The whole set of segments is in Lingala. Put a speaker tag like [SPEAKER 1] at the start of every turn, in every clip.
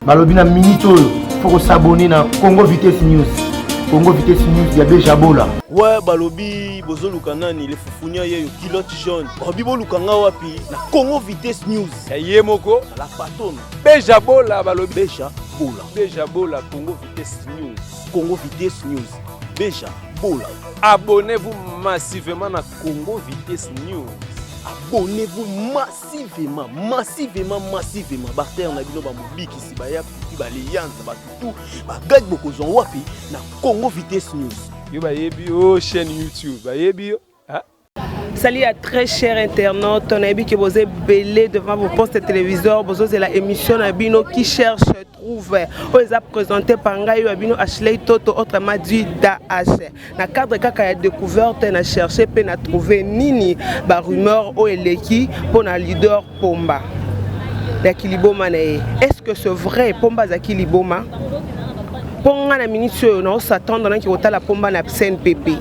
[SPEAKER 1] balobi na minute oyo fo kosabone na congo vitesse news congo vitesse news ya bejabola we balobi
[SPEAKER 2] bozoluka nani le fufunia yeyo kilote jaune balobi boluka nga wapi na congo vitesse news ya ye moko
[SPEAKER 3] la patone
[SPEAKER 2] bejabola
[SPEAKER 3] balobi beja bola
[SPEAKER 2] beja bola congo
[SPEAKER 3] vitesse news congo vitesse
[SPEAKER 2] news beja bola abonnez-vous
[SPEAKER 3] massivement na congo vitesse news abonnez-vous
[SPEAKER 2] massivement massivement massivement massivement bartere na bino bamobikisi baya kuti baleyanza batutu bagadi bokozwa wapi na congo vitesse news yo bayebi yo oh,
[SPEAKER 3] chaîne youtube bayebi yo
[SPEAKER 4] sali ya très cher internaute nayebi ke boza ebele devant vos poste téléviseur bozozela émission na bino qui cherche trouve oyo eza présente par ngai oyo ya bino ashley toto autrement dit daas na cadre kaka ya découverte na cherche mpe na trouve nini barumeur oyo eleki mpo na leader pomba ya kiliboma na ye est ce que ce vrai pomba azalaki liboma mpo ngai na miniti oyo naosatendre naki kotala pomba na cnpp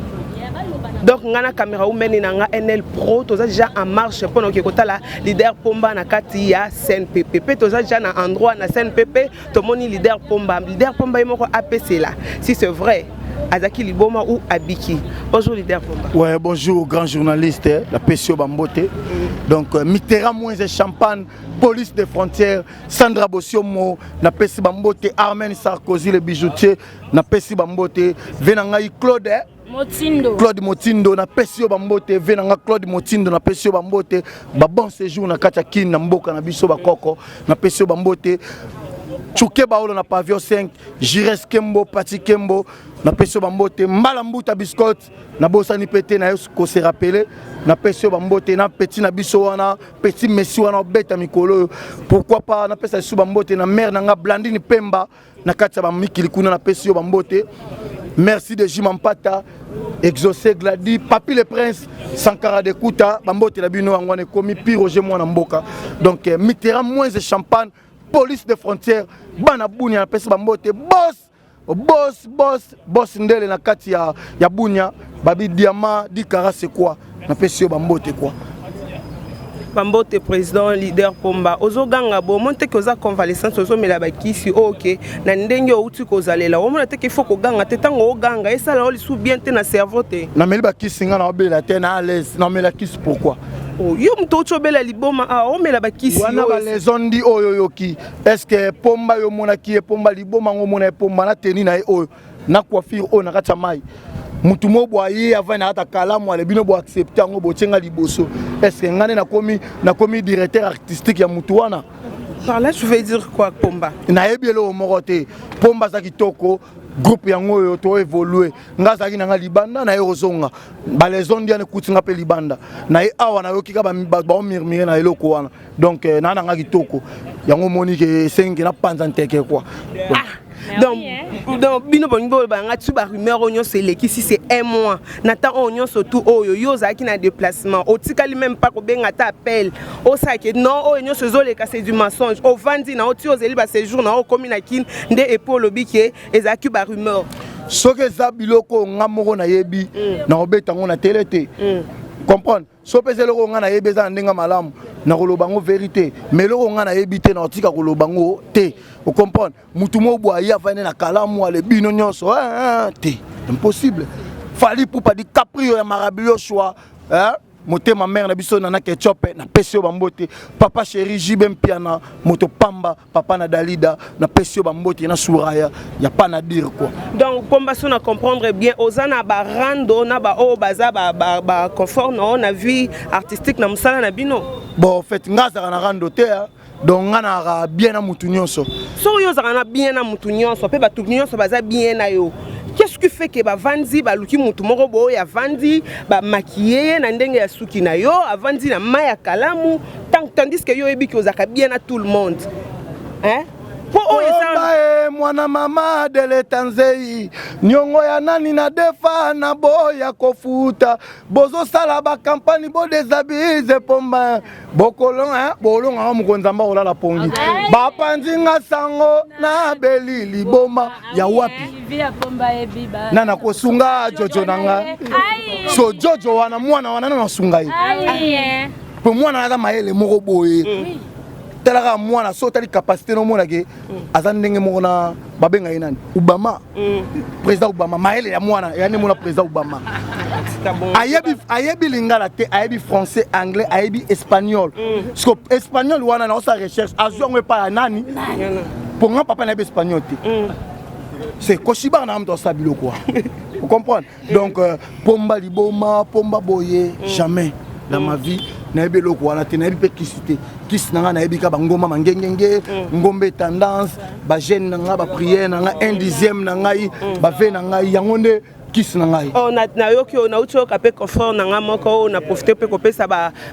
[SPEAKER 4] donc ngai na camera umene na ngai nl pro toza déjà en marche mpo na oke kotala leader pomba na kati ya cnpp mpe toza deja na endroit na cnpp tomoni leader pomba leader pomba ye moko apesela si c'est vrai azalaki liboma ou abiki bonjour leader pomba ouais bonjour grand
[SPEAKER 1] journaliste eh, la pesio bambote mm. donc euh, mitera moins et champagne police des frontières sandra bosiomo na pesi bambote armen sarkozy le bijoutier na pesi bambote ve na ngai claude eh, Motindo. Claude Motindo na pesi yo bambote ve na nga Claude Motindo na pesi yo bambote ba bon séjour na kati ya Kin na mboka na biso ba koko na pesi yo bambote Chuke Baolo na pavillon 5 Jires Kembo Pati Kembo na pesi yo bambote Mbala Mbuta Biscot na bosani pe te na yo ko se rappeler na pesi yo bambote na petit na biso wana petit Messi wana obeta mikolo oyo pourquoi pas na pesa lisusu bambote na mère na nga Blandine Pemba na kati ya bamikili kuna napesi yo bambote merci de jima mpata exaucé gladi papi le prince sankara de kuta bambote na bino yango wana ekomi pi roger mwana mboka donc eh, mitera moins de champagne police de frontière bana bunia napesi bambote bos bos bos Boss Ndele na kati ya, ya Bunia, Babi Diama, Dikara c'est quoi Na pesi yo bambote quoi.
[SPEAKER 4] bambote président leader pomba ozoganga bo omoni teke oza convalescence ozomela bakisi oyo oh, ke na ndenge outi kozalela omona teke ifo koganga te ntango oganga esala yo lisusu bien te na cerveau te nameli bakisi ngai
[SPEAKER 1] naobela te na alaise namela kisi pourquoi oh, yo moto
[SPEAKER 4] outi obela liboma awa ah, omela bakisi wana balesondi
[SPEAKER 1] oyo oyoki est-ce que pomba yo monaki ye pomba liboma ngo mona ye pomba na teni na ye oyo na coiffure oyo na kati ya mai mutu mo bwa ye avai na kata kalamu ale bino bo accepte yango botie nga liboso est ce que ngai nde nakomi nakomi directeur artistique ya mutu wana Par là, tu veux
[SPEAKER 4] dire quoi, Pomba nayebi eloko moko
[SPEAKER 1] te pomba aza kitoko groupe yango oyo to évolue nga azalaki na nga libanda naye kozonga baleson diane ekuti nga mpe libanda naye awa nayoki ka baomurmure na eloko wana donc euh, naa nanga kitoko yango omoni ke esengi ke napanza nteke kua ah, donc eh.
[SPEAKER 4] donc bino bolingi boloba yanga tu barumeur oyo nyonso elekisi se un mois na temps oyo nyonso tu oyo yo ozalaki na déplacement otikali meme mpa kobenga ata appel osalaki non oyo nyonso ezoleka c'est du mensonge ovandi na yo ti ozeli baséjour na yo okomi na kine nde epo olobi ke ezalaki barumeur soki eza
[SPEAKER 1] biloko nga moko nayebi mm. nakobeta yango na tele te mm. comprendre so pesa eloko ngai nayebi eza na ndenge malamu nakoloba yango verité mais eloko ngai nayebi te nakotika koloba yango te ocomprendre motu moko bwaye avandi na kalamu ale bino nyonso eh, eh, eh, te impossible fali pupa di caprio ya marabilio choix motema mare na biso nana ketchope napesi yo bambote papa chéri jb mpiana moto pamba papa na dalida na pesi yo ba mbote na suraya ya pas na dire quoi donc comme baso na
[SPEAKER 4] comprendre bien oza na ba rando na ba oyo baza ba ba, ba confort na na vie artistique na musala na bino bon en fait nga
[SPEAKER 1] azaka na rando te hein? donc nga na bien na mutu nyonso soki yo ozaka na
[SPEAKER 4] bien na mutu nyonso mpe bato nyonso baza bien na yo qu'est-ce qui fait que bavandi baluki motu moko boye avandi bamakiye ye na ndenge ya suki na yo avandi na mai ya kalamu Tant, tandis que yo oyebi ki ozalaka bien na tout le monde hein? mpo oyo ezae
[SPEAKER 1] mwana mama deleta nzei niongo ya nani na defa na boya kofuta bozosala bakampani bodesabilise pomba bokolonga bolonga wa mokonzi amba kolala pongi bapanzi nga sango na beli liboma ya wapi na nakosunga jojo na nga so jojo wana mwana wana na nasunga ye mpo mwana aza mayele moko boye mm. tala kaka mwana so otali capacité nomona ke mm. aza ndenge moko na babenga ye nani obama mm. président obama mayele ya mwana ya nde mona président obama ayebi ayebi lingala te ayebi français anglais ayebi espagnol siko espagnol wana na osala recherche azwi yango epai ya nani mpo nga papa nayebi espagnol te c'est koshibaka na nga moto asala biloko wana ocomprendre donc euh, pomba liboma pomba boye mm. jamais na mm. ma vie nayebi eloko wana te nayebi mpe kisi te kisi na ngai nayebi ka bangomba mangengenge mm. ngombe tendance bagene na ngai bapriere na ngai un dixième na ngai bave na ngai yango nde kisi na ngai oh, nayoki oyo
[SPEAKER 4] nauti oyoka mpe confort na ngai moko oyo na profite mpe kopesa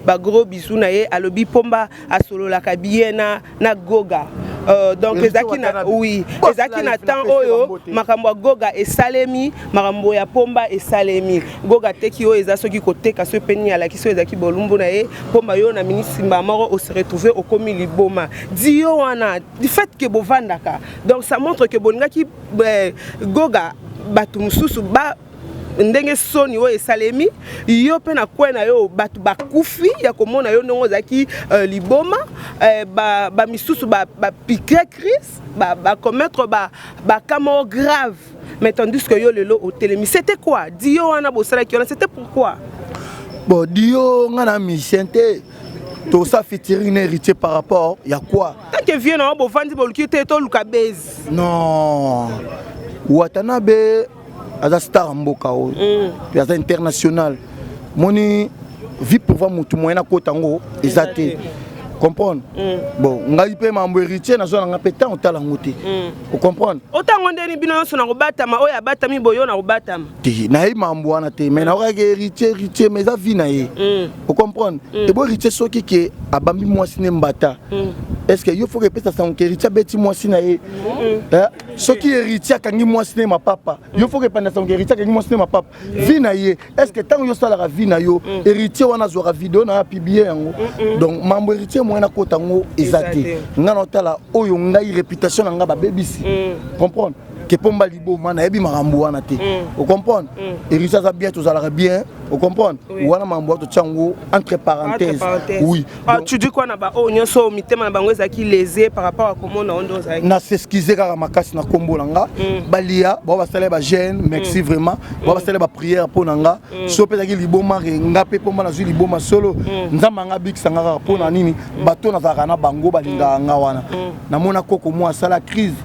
[SPEAKER 4] bagros bisu na ye alobi pomba asololaka biye na, na goga Uh, donc ezalaki na oui ezalaki na temps oyo makambo ya goga esalemi makambo ya pomba esalemi goga teki oyo eza soki koteka soki mpe nini alakisi oyo ezalaki bolumbu na ye pomba yo na ministre mbaa moko ose retrouve okomi liboma di yo wana du fait ke bovandaka donc ça montre ke bolingaki eh, goga bato mosusu ba ndenge soni oyo esalemi yo mpe na kwe na yo bato bakufi ya komona yo ndenge ozalaki uh, liboma uh, bamisusu ba bapike ba crise bacommettre ba baka ba moko grave mais tandis que yo lelo otelemi c'était quoi dio wana bosalaki wana c'était pourquoi bon
[SPEAKER 1] dio nga na musicien te tosa fitiring na héritier par rapport ya quoi tanke vieux na yo bovandi
[SPEAKER 4] boluki te toluka base non
[SPEAKER 1] watanabe aza star ya mboka oyo mm. mpe aza international moni vie pouvoir motu moyen akota yango eza te comprendre mm. bon ngai mpe mambo héritier nazwa nanga mpe ntango otala yango te mm. ocomprendre otango ndeni bino nyonso
[SPEAKER 4] na kobatama oyo abatami boyo na kobatama te nayebi mambo
[SPEAKER 1] wana te mai naokaki héritier héritier mais eza vie na ye mm. ocomprendre ebo héritier soki ke abambi mwasi ne mbata est ce que yo foka epesa sango ke héritier abeti mwasi na ye soki héritier akangi mwasi ne mapapa yo foka epanda sango héritier akangi mwasi ne mapapa vi na ye est ce que ntango yo osalaka vi na yo mm. héritier wana azwaka video na apiblie yango donc mambo héritier moyen akota yango eza te ngai naotala oyo ngai réputation na ngai babebisi mm. comprendre kepomba liboma nayebi makambo wana te mm. ocomprendre héritier aza bien tozalaka bien Vous comprenez oui. Wana mambo to tiango entre parenthèses. Oui. Ah, Donc, tu dis quoi na ba
[SPEAKER 4] oh nyoso mitema na bango ezaki lésé par rapport à comment na ondo zaki. Na s'excuser kaka
[SPEAKER 1] makasi na kombo na nga. Mm. Balia ba ba sala ba gêne, merci mm. vraiment. Ba ba mm. sala ba prière po na nga. Mm. So pe zaki liboma re nga pe pomba na zui liboma solo. Mm. Nzamba nga big sanga kaka po na nini? Mm. Bato na zaka na bango balinga nga wana. Mm. Na mona koko mwa sala crise.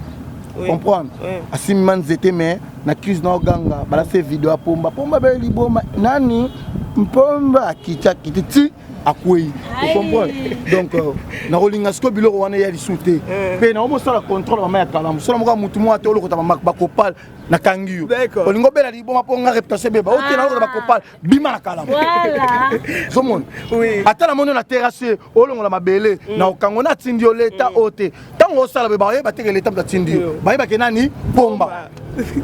[SPEAKER 1] Oui. Comprendre? Oui. Asimman zete mais na crise na oganga balase video ya pomba pomba bee liboma nani mpomba akitakiti ti akwei okomprendre donc euh, nakolinga sikoyo biloko wana eya lisusu te eh. mpe nango bosala contrôle mama ya kalamu sala moko ya motu moko ate olokota bakopale nakangi yo olingi obela liboma mpo nga reputation ebeba oke nalokota bakopale bima na kalamu zomona ata na moni na terrasse olongola mabele mm. na okango na atindi yo leta mm. oyo te ntango osala boye baye bateke leta moto atindi yo baye bake nani pomba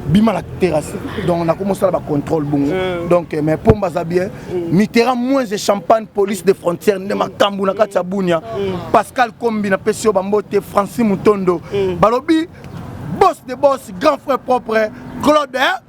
[SPEAKER 1] bima na terrasse donc nakomi osala bacontrôle bongo mm. donc eh, mais pomba aza bien mitera moins de champagne police de frontière nde makambo na kati ya bunia pascal kombi napesi yo bambote franci mutondo balobi boss de boss grand frère propre claude eh?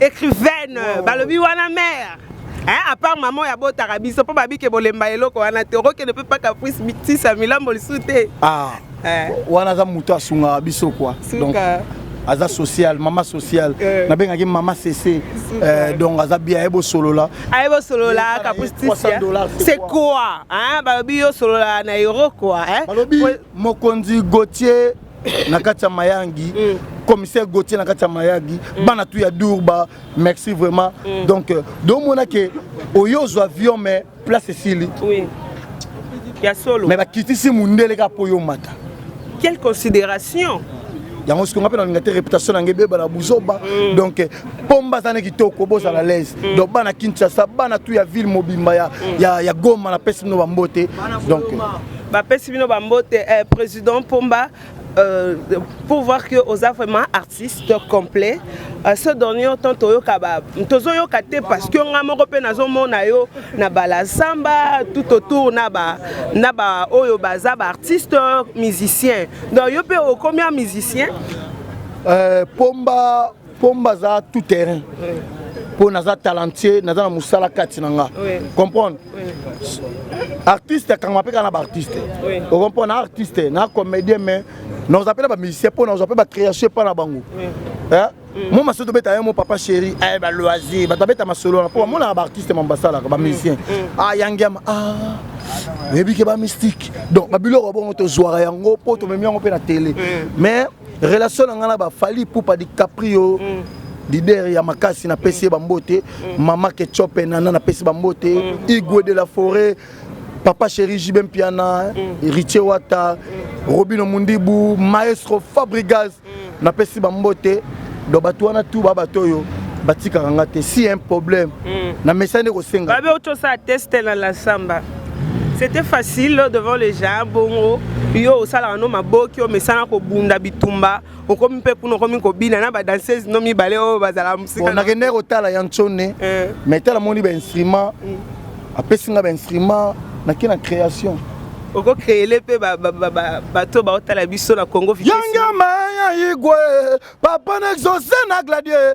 [SPEAKER 4] écrivaine wow. balobi wana mère Hein, à part maman ya botaka biso mpo babike bolemba eloko wana te okokende mpe mpa caprice mitisa milambo lisu te ah.
[SPEAKER 1] eh. wana aza moto asungaka biso kua donc aza social mama social eh. nabengaki mama sese eh, donc aza bien aye bosolola aye bosolola
[SPEAKER 4] kapustisia c'est quoi balobi yo solola na euro quoi balobi mokonzi
[SPEAKER 1] gautier na kati ya mayangi mm. commissaire gautier na kati ya mayagi mm. bana tu ya durba merci vraiment mm. donc euh, domona ke oye ozwa avion mais place esili oui.
[SPEAKER 4] ya solo mais bakitisi mundele
[SPEAKER 1] kaka mpo yo omata quelle
[SPEAKER 4] considération yango soki
[SPEAKER 1] nga mpe nalinga te réputation nange ebeba na buzoba mm. donc eh, pomba aza ne kitoko bozala mm. lese mm. donc bana kinshasa bana tu ya ville mobimba ya, ya, ya goma napesi bino bambote donc eh, bapesi
[SPEAKER 4] bino bambote eh, président pomba Euh, pour voir que oza vraiment artiste complet euh, ce dernier temps toyoka tozoyoka te parce que nga moko mpe nazomona yo na balasamba tout autour na ba na ba oyo baza baartiste musicien donc yo mpe okomi ya musicien euh, pomba
[SPEAKER 1] pomba aza tout terrain mpo naza talentueux naza na mosala kati na nga comprendre artiste akangama mpe kaka na baartiste okompo na artiste na comédien mais naoza mpe na bamusicien mpo naoza mpe bacréation epa na bango mm. mo masolo tobeta ye mo papa chéri eh, baloisir bato babeta masolo wana mpo bamonaka baartiste ma basalaka bamusicien mm. mm. ayangiama ah, ah. oyebi ke bamystique donc babiloko bongo tozwaka yango mpo tomemi yango mpe na tele mais relation na ngai na ba Fally Ipupa DiCaprio mm. leader ya makasi napesi ye bambote mm. mama ketchope nana napesi bambote mm. igwe de la forêt papa chéri JB Mpiana mm. Richie Wata mm. Robino Mundibu maestro Fabrigas mm. napesi bambote donc bato wana tu ba bato oyo batikaka nga te si un problème mm. na mesani nde kosenga babe otosa teste
[SPEAKER 4] na la samba c'était facile devant les gens bongo yo osalaka no maboki omesana kobunda bitumba okomi mpe kuna okomi kobina na badanseuse no mibale oyo bazala mosiknakendaki kotala ya
[SPEAKER 1] nsone eh. mais tala moni bainstrument mm. apesi nga bainstrument nake na création okokreele
[SPEAKER 4] mpe bato baotala biso na congo yangama ya
[SPEAKER 1] igwe papa na exauce na gladie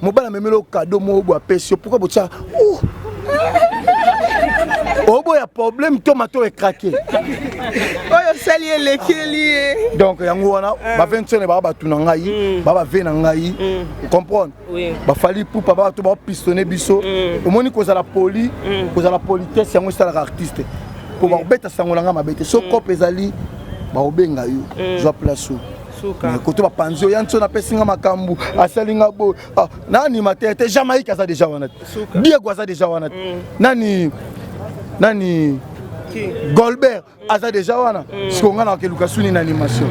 [SPEAKER 1] mobali amemeli yo kado moko boye apesi yo pourkui botya oboya problème to mato ekrake oyo
[SPEAKER 4] osali elekeli ye donc yango wana
[SPEAKER 1] ah. bavensone baa bato na ngai mm. baa bave na ngai mm. comprendre bafali pupa baa bato baopistone biso mm. omoni kozala poli kozala politesse yango esalaka artiste mpo bakobeta sango na ngai mabe te so cope ezali bakobenga yo zwa place oyo mais koto bapanzi oyo yanso napesi nga makambo asali nga boye ah, na animateur te jamaïque aza deja wana te diego aza deja wana te mm. nani nani golbert mm. aza deja wana mm. siko ngai nakeluka suni na animation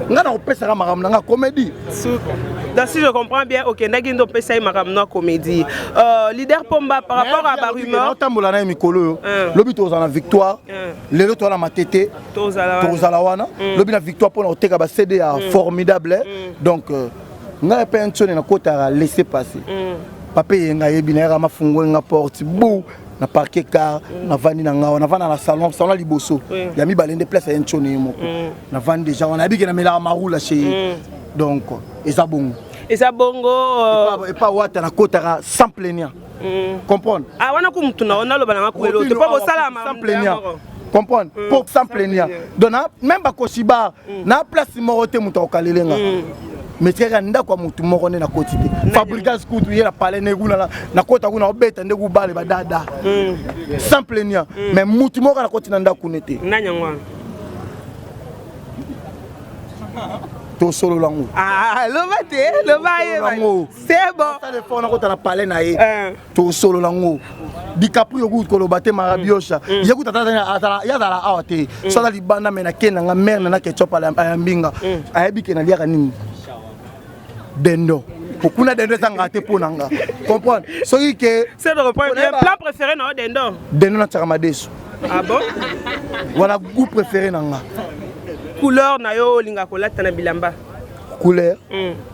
[SPEAKER 1] ngai nakopesaka makambo na ngai comédie Donc
[SPEAKER 4] si je comprends bien, ok, ndagi ndo pesa ye makambo na comédie. Euh, leader Pomba par rapport à ba rumeurs. Otambola na mikolo yo.
[SPEAKER 1] Lobi tozana victoire. Lelo to na matete. tokozala wana mm. lobi na victoire mpona koteka ba cd ya mm. formidable eh. mm. donc euh, ngai mpe nsoni nakotaka laisse passer papa eye ngai yebi nayaka mafungoli nga porte bou na parke car navandi na ngai navanda na salon salon ya liboso ya mibale nde place ya nsoni ye moko navandi deja wana yebike namelaka marula chez ye donc eza bongo eza bongo epa euh, wata nakotaka sans plaignant mm. comprendre ah wana ko mutu na
[SPEAKER 4] ona loba na ko elo to po sala ma sans plaignant
[SPEAKER 1] comprendre mm, pour sans plaignant donc na même ba ko siba mm. na place moko te mutu okalelenga mm. mais tikaka ndako ya motu moko nde nakoti te fabrigas kutu ye na palais nde kuna nakota kuna obeta nde kubale badada mm. sans plaignant mm. mais motu moko nakoti na ndako ne te tosolola yango ah, loba te loba ye
[SPEAKER 4] sale fort nakota na palais
[SPEAKER 1] na ye eh. tosolola ngo dicaprio okuti koloba te marabiosha mm. ye kuta ye azala awa te mm. so aza libanda me nake nanga mare na na ketchup ya mbinga mm. ayebi ke naliaka nini dendo okuna dendo ezanga te mpo na nga comprendre soki ke plat
[SPEAKER 4] préféré na yo dendo dendo natyaka
[SPEAKER 1] madesu ah bon
[SPEAKER 4] wana
[SPEAKER 1] goût préféré na nga couleur
[SPEAKER 4] na yo olinga kolata na bilamba couleur mm.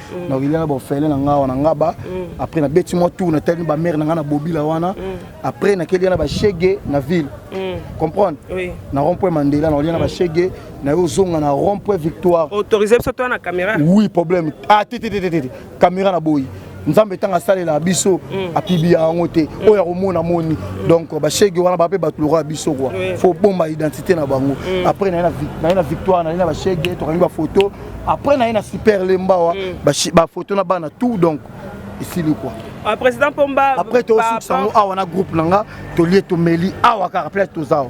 [SPEAKER 1] mm. na oyelela baofele na nga wana ngaba mm. après nabeti mwa tour natalini bamare na nga na bobila wana mm. après nakeli na bashege na ville comprendre na rond point mandela na olia na bashege na yo ozonga na rond point victoire autorise
[SPEAKER 4] biso toya na
[SPEAKER 1] caméra
[SPEAKER 4] oui
[SPEAKER 1] problème
[SPEAKER 4] ah
[SPEAKER 1] te te
[SPEAKER 4] te te
[SPEAKER 1] caméra
[SPEAKER 4] na boyi
[SPEAKER 1] nzambe ntango asalela biso mm. apibiya yango te mm. oyo akomona moni mm. donc bashege wana bape bato lokola biso kua fo bomba identité na bango après naye na victoire naye na bashege tokangi bafoto après naye na super lembawa mm. bafoto na bana tout donc esili kua ah, président pomba
[SPEAKER 4] après tosukisa yango
[SPEAKER 1] awa na groupe na nga tolie tomeli awa kaka place toza awa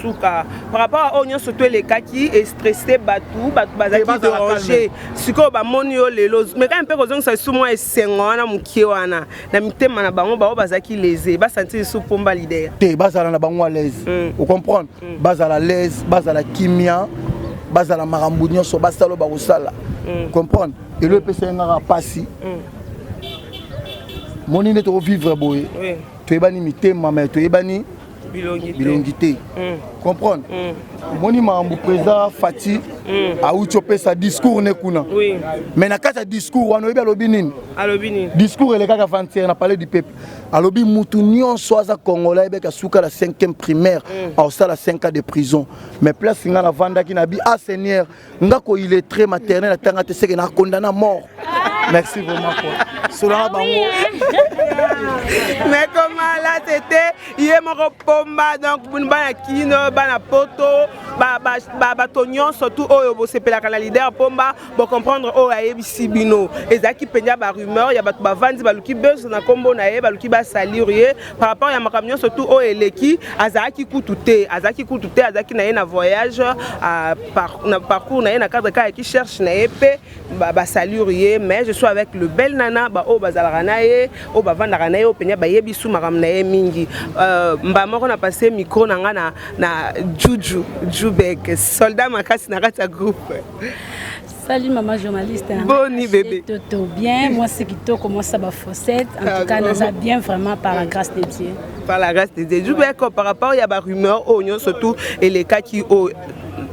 [SPEAKER 1] suka
[SPEAKER 4] par rapport a oyo nyonso to elekaki estresse bato bato bazalaki derange sikoyo bamoni yo lelo mekani mpe kozongisa lisusu mwa esengo wana moke wana na mitema na bango baoyo bazalaki lese basanti lisusu mpomba lider te bazala na bango
[SPEAKER 1] alaise mm. ocomprendre mm. bazala laise bazala kimia bazala makambo nyonso basala oyo bakosala mm. comprendre elo epesa yengaka mpasi mm. moni nde tokovivre boye oui. toyebani mitema me toyebani bilongi te mm. comprendre mm. omoni makambo président fati mm. auti opesa discours ne kuna mais na kati ya discours wana oyebi alobi nini discours elekaka vantiere na palais du peuple alobi mutu nyonso aza congolais ayebeka suka la 5e primaire aosala 5 ans de prison mais place ngai navandaki na bi a ah, seigneur nga ko illettré maternel atanga te seke na condamne à mort merci vraiment quoi solanga bango
[SPEAKER 4] mais comment là c'était ye moko pomba donc bana kino bana poto bato nyonso tu oyo bosepelaka na lider pomba bocomprendre oyo ayebisi bino ezalaki mpenza barumeur ya bato bavandi baluki bezo na nkombo na ye baluki basalir ye par rapport ya makambo nyonso tu oyo eleki azalaki kutu te azalaki kutu te azalaki na ye na voyage par, na parcours na ye na cadre kaka ki cherche na ye mpe basalure ye mais je suis avec le bel nana baoyo bazalaka na ye oyo bavandaka na ye oyo mpenza bayebi su makambo na ye mingi euh, mbala moko na passe micro na ngai na, na juju jubek soldat makasi na kati ya groupe Salut
[SPEAKER 5] maman journaliste. Boni bébé.
[SPEAKER 4] Toto bien, moi
[SPEAKER 5] c'est kitoko, moi ça ba fossette. En ah, tout cas, nous a bien vraiment par la grâce de Dieu. Par la grâce de
[SPEAKER 4] Dieu. Je vais par rapport il y a ba rumeur oh non surtout et les cas qui oh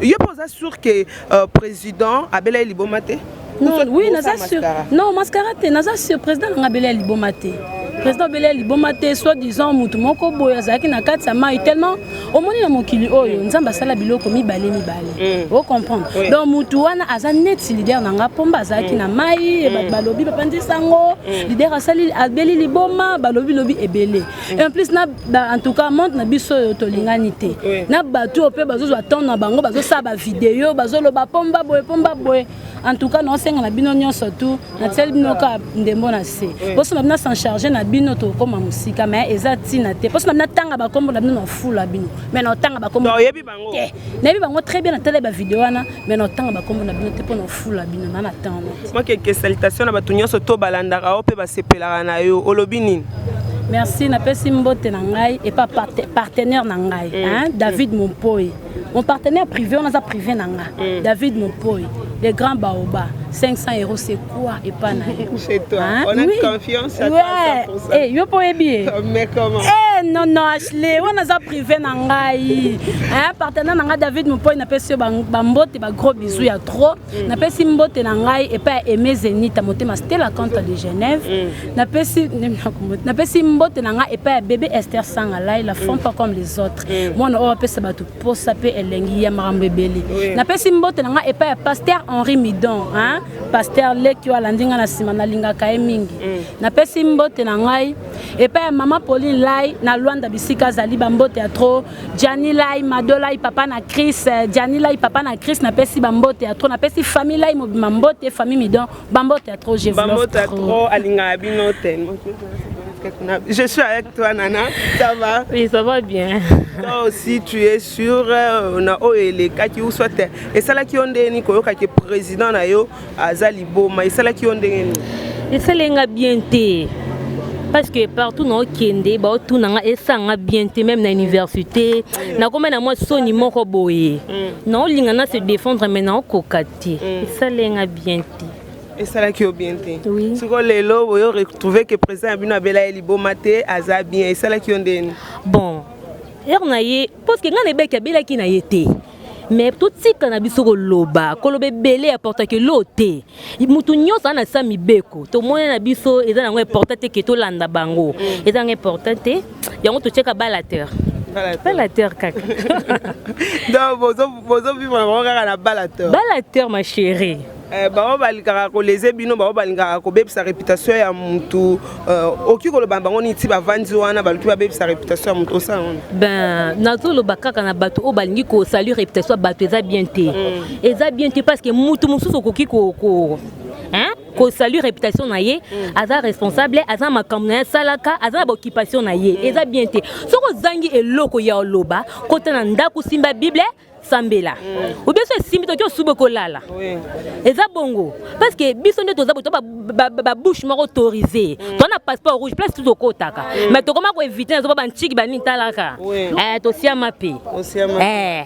[SPEAKER 4] yo posa sûr que euh, président abela liboma te. Non, oui,
[SPEAKER 5] naza sûr. Non, mascara te, naza sûr président ngabela liboma te. président belel liboma te soit disant motu moko boye azalaki na kati ya mai tellement omoni na mokili oyo nzambe asala biloko mibale mibale mm. o comprendre oui. donc mutu wana aza neti lider na nga pomba azalaki mm. na mai mm. balobi bapanzisi yango mm. lider asali abeli liboma balobi lobi ebele mm. en plus na ba, en tout cas monde na biso oyo tolingani te oui. na bato oyo mpe bazozwa temps na bango bazosala bavideo bazoloba pomba boye pomba boye en tout cas naosenga na bino nyonso tu natieli bino kaka ndembo na se mposo na bino s'en charge na bino tokokoma mosika mais eza ntina te mposo na bino atanga bakombo na bino nafula bino mais naotanga bakombo te
[SPEAKER 4] nayebi bango très
[SPEAKER 5] bien natala bavideo wana mais naotanga bakombo na bino te mpo nafula bino na natanga makeke salitation
[SPEAKER 4] na bato nyonso to balandaka yo mpe basepelaka na yo olobi nini merci
[SPEAKER 5] napesi mbote na ngai epa partenaire na ngai mm. david mompoi mon partenaire privé wana aza privé na nga mm. david mopoy le grand baoba 500 euros c'est quoi epa na yo chez toi hein? on a
[SPEAKER 4] oui. confiance à ouais. toi 100% hey, yo
[SPEAKER 5] mpo oyebi ye mais comment hey, eh,
[SPEAKER 4] non non
[SPEAKER 5] ashley wana aza privé na ngai hein, partenaire na ngai david mopoy napesi yo bambote ba gros bisou ya trop mm. napesi mbote na ngai epai ya aime zenita motema stela cante de genève mm. napesi napesi mbote na ngai epai ya bebe esther sangalai la font mm. pas comme les autres Mm. mwana oyo apesa bato posa mpe elengi ya makambo ebele napesi mbote na ngai epai ya paster henri midon paster leki oyo alandi ngai na nsima nalingaka ye mingi mm. napesi mbote na ngai epai ya mama pauline lai na lwanda bisika azali bambote ya tro jani lai mado lai papa na cris jani lai papa na cris napesi bambote ya tro napesi famille lai mobima mbote famille midon Bambote ya trop, je vous love trop. Bambote ya trop,
[SPEAKER 4] alingaka bino tellement. Je suis avec toi, Nana. Ça va Oui, ça va bien.
[SPEAKER 5] Toi aussi,
[SPEAKER 4] tu es sûr euh, na oyo elekaki ou soit euh, esalaki yo ndenge nini koyokaki président na yo aza liboma esalaki yo ndenge nini esali nga
[SPEAKER 6] bien te parce que partout na okende baotuna nga esanga bien te même na université nakoma na mwa soni moko boye mm. naolinga na se défendre mais naokoka te te mm. esaleli nga bien te esalaki yo
[SPEAKER 4] bien te oui. sikoyo lelo
[SPEAKER 6] boyo
[SPEAKER 4] retrouve ke président ya bino abela ye liboma te aza bien esalaki yo ndeni bon
[SPEAKER 6] heure na ye parceke ngai na ebaki abelaki na ye te me totika na biso koloba koloba ebele ya portake lo te moto nyonso ana sa mibeko tomoni na biso eza nango important te ke tolanda bango eza nango important te yango totyeka balateur balateur kaka
[SPEAKER 4] donc bozovivre na bango
[SPEAKER 6] kaka na
[SPEAKER 4] balateur balateur
[SPEAKER 6] ma chérie
[SPEAKER 4] Eh, bango balingaka koleze bino bango balingaka kobebisa réputation ya motu eh, okoki koloba bango nini ti bavandi wana baluki babebisa réputation ya motu osala wana ben nazoloba
[SPEAKER 6] kaka na bato oyo balingi kosalir réputation ya bato eza bien te mm. eza bien te parce que motu mosusu okoki ko, ko, hein? ko salut réputation na ye mm. aza responsable aza makambo na ye asalaka aza na baoccupation na ye mm. eza bien te soki ozangi eloko ya oloba kota na ndako simba bible sambela mm. obiso esimbi toki osuba okolala eza bongo parce que biso nde toza boto babouche moko autorise mm. toa na passeport rouge place tout okotaka mm. mais tokoma koevite nazoba bantiki banitalaka eh, tosiama mpe eh.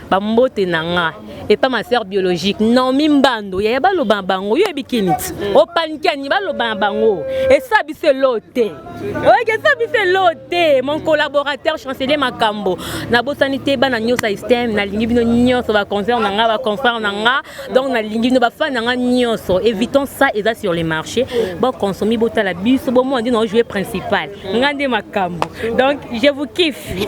[SPEAKER 6] bambote na nga epa ma sœur biologique naomi mbando yaya baloba na bango yo yebi kiniti mm. opanikiani baloba na bango esa biso elo te oyeke esa biso elo te mon collaborateur chancelier makambo nabosani te bana nyonso ya système nalingi bino nyonso baconcert na nga baconfrère na nga donc nalingi bino bafani na nga nyonso évitons ça eza sur le marché boconsomi botala biso bomona nde naojoue principal nga nde makambo donc je vous kiffe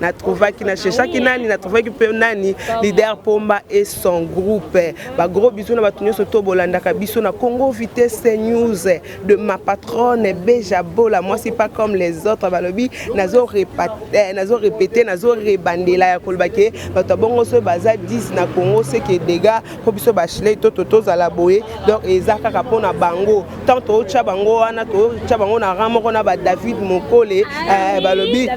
[SPEAKER 4] na trouvaki na cherchaki nani na trouvaki mpe nani leader pomba et son groupe ba gros bisous na bato nyonso to bolandaka biso na congo vitesse news de ma patronne beja bola mwasi pas comme les autres balobi nazo repete nazo rebandela ya koloba ke bato ya bongo soki baza 10 na congo seke dega mpo biso bachilei to tozala boye donc eza kaka mpo na bango ntango totya bango wana totya bango na rang moko na badavid mokole eh, balobi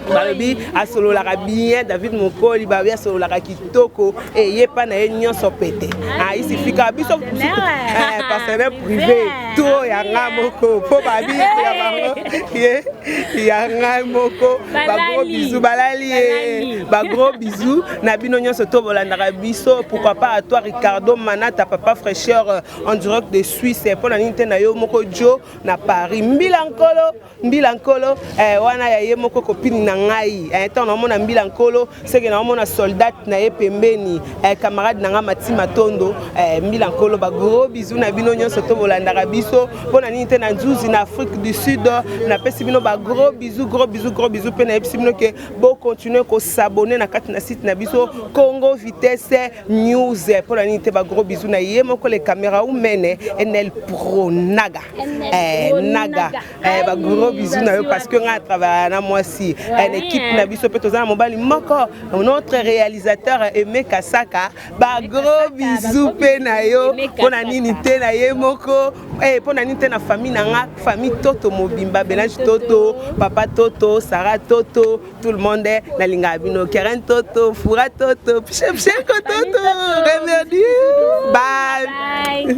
[SPEAKER 4] balobi asololaka bien david mokoli balobi asololaka kitoko eye eh, mpa na ye nyonso pete aisifika ah, biso eh, partenaire privé to ya ngai moko mpo babi ya bango ye ya ngai moko bagros bizu balali ye bagros bizu na bino nyonso to bolandaka biso pourquoi pas à toi ricardo manata papa fraîcheur euh, en direct de suisse mpo na nini te na yo moko jo na paris mbila nkolo mbila nkolo eh, wana ya ye moko kopini na ngai eh, ntango naomona mbila nkolo seke naomona soldat na ye pembeni eh, camarade na ngai mati matondo eh, mbila nkolo bagros bizu na bino nyonso to bolandaka biso mpo na nini te na nzuzi na afrique du sud napesi bino bagros bizu gros bizu gros bizu mpe nayebisi bino ke bo continuer ko s'abonner na kati na site na biso Congo Vitesse News mpo na nini te ba gros bisous na ye moko le camera ou mene Enel Pro Naga eh Naga eh ba gros bisous na yo parce que nga travailler na mwasi en équipe na biso mpe toza na mobali moko notre réalisateur Aimé Kasaka bagro bizu mpe na yo mpo na nini te na ye moko eh, mpo na nini te na famille na nga famille toto mobimba belange toto papa toto sara toto tout le monde eh, nalingaka bino keren toto fura toto pshepsheko toto remerdi bye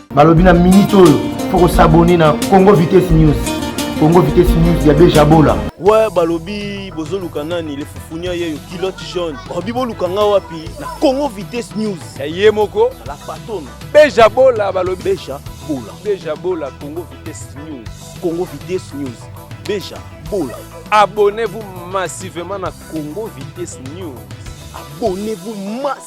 [SPEAKER 1] balobi na minute oyo faut kosabone na congo vitesse news congo vitesse news ya bejabola we balobi
[SPEAKER 2] bozoluka nani le fufunia yeyo kilote jaune balobi boluka nga wapi na congo vitesse news ya ye moko
[SPEAKER 3] la patone
[SPEAKER 2] bejabola
[SPEAKER 3] balobi beja bola
[SPEAKER 2] beja bola congo
[SPEAKER 3] vitesse news congo vitesse
[SPEAKER 2] news beja bola abonnez-vous
[SPEAKER 3] massivement na congo vitesse news abonnez-vous
[SPEAKER 2] massivement